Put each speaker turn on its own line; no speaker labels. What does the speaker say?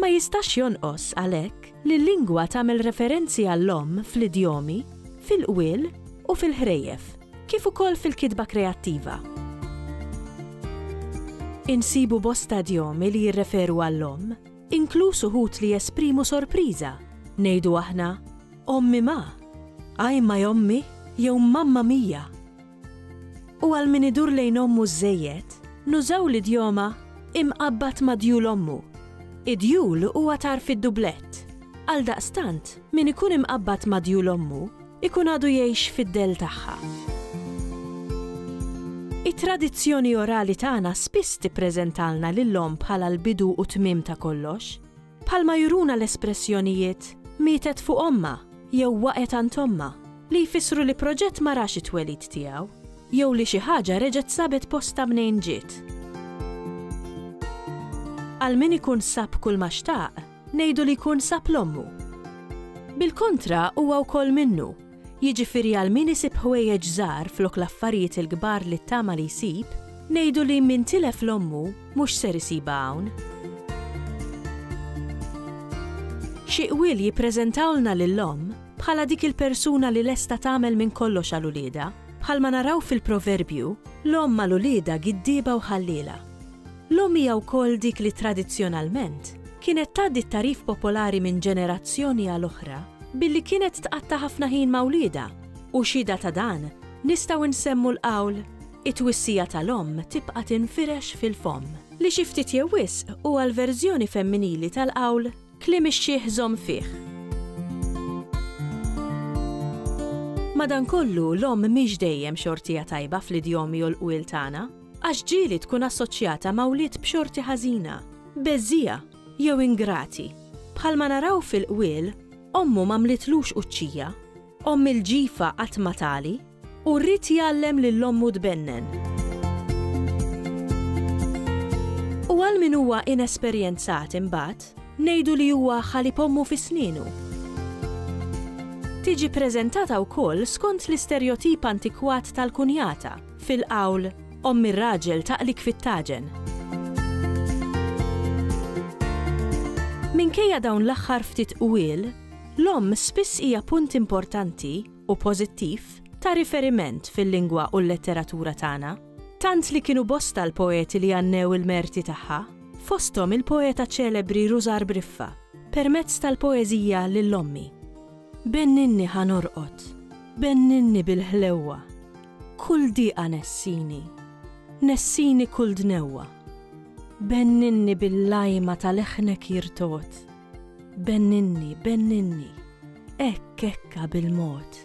Ma jistax jonqos, għalhekk, li l-lingwa tagħmel referenzi għall-omm fl-idjomi, fil-qwiel u fil-ħrejjef, kif ukoll fil-kitba kreattiva. Insibu bosta idjomi li jirreferu għall-omm, inkluż uħud li jesprimu sorpriża, ngħidu aħna, Ommi ma! Ajmaj ommi! jew Mamma mia! U għal min idur lejn ommu żżejjed, nużaw l-idjoma imqabbad ma' djul ommu. Id-djul huwa tarf id-dublett. Għaldaqstant, min ikun imqabbad ma' djul ommu, ikun għadu jgħix fid-dell tagħha. It-tradizzjoni orali tagħna spiss tippreżentalna lill-omm bħala l-bidu u t-tmiem ta' kollox. Bħalma juruna l-espressjonijiet mietet fuq ommha jew waqgħet għand ommha, li jfissru li proġett ma rax it-twelid tiegħu jew li xi ħaġa reġgħet sabet postha mnejn ġiet. Għal min ikun sab kulma xtaq, ngħidu li jkun sab l-ommu. Bil-kontra huwa wkoll minnu Jiġifieri għal min isib ħwejjeġ żgħar flok l-affarijiet il-kbar li ttama li jsib, ngħidu li min tilef 'l ommu mhux ser isibha hawn. Xi qwiel jippreżentawlna lil omm bħala dik il-persuna li lesta tagħmel minn kollox għal uliedha. Bħalma naraw fil-proverbju, l-omm għal uliedha giddieba u ħalliela. L-omm hija wkoll dik li tradizzjonalment kienet tgħaddi t-tagħrif popolari minn ġenerazzjoni għal oħra billi kienet tqatta' ħafna ħin ma' wliedha u xhieda ta' dan nistgħu nsemmu l-qawl It-twissija tal-omm tibqa' tinfirex fil-fomm, li xi ftit jew wisq huwa l-verżjoni femminili tal-qawl Kliem ix-xiħ żomm fih. Madankollu, l-omm mhix dejjem xortija tajba fl-idjomi u l-qwiel tagħna. Għax ġieli tkun assoċjata ma' wlied b'xorti ħażina, beżżiegħa, jew ingrati. Bħalma naraw fil-qwiel, ommu m'għamlitlux quċċija, omm il-ġifa qatt ma tagħli, u rrid jgħallem lil ommu tbennen. U għal min huwa inesperjenzat imbagħad, ngħidu li huwa ħalib ommu fi snienu. Tiġi ppreżentata wkoll skont l-isterjotip antikwat tal-kunjata, Fil-qawl, omm ir-raġel taqlik fit-taġen. Minkejja dawn l-aħħar ftit qwiel, l-omm spiss hija punt importanti, u pożittiv, ta' riferiment fil-lingwa u l-letteratura tagħna, tant li kienu bosta l-poeti li għannew il-merti tagħha, fosthom il-poeta ċelebri Rużar Briffa, permezz tal-poeżija Lil Ommi. Benninni ħa norqod, benninni bil-ħlewwa. Kull diqa nessini, nessini kull dnewwa, benninni bil-lajma ta' leħnek jirtogħod, benninni, benninni, hekk hekka bil-mod.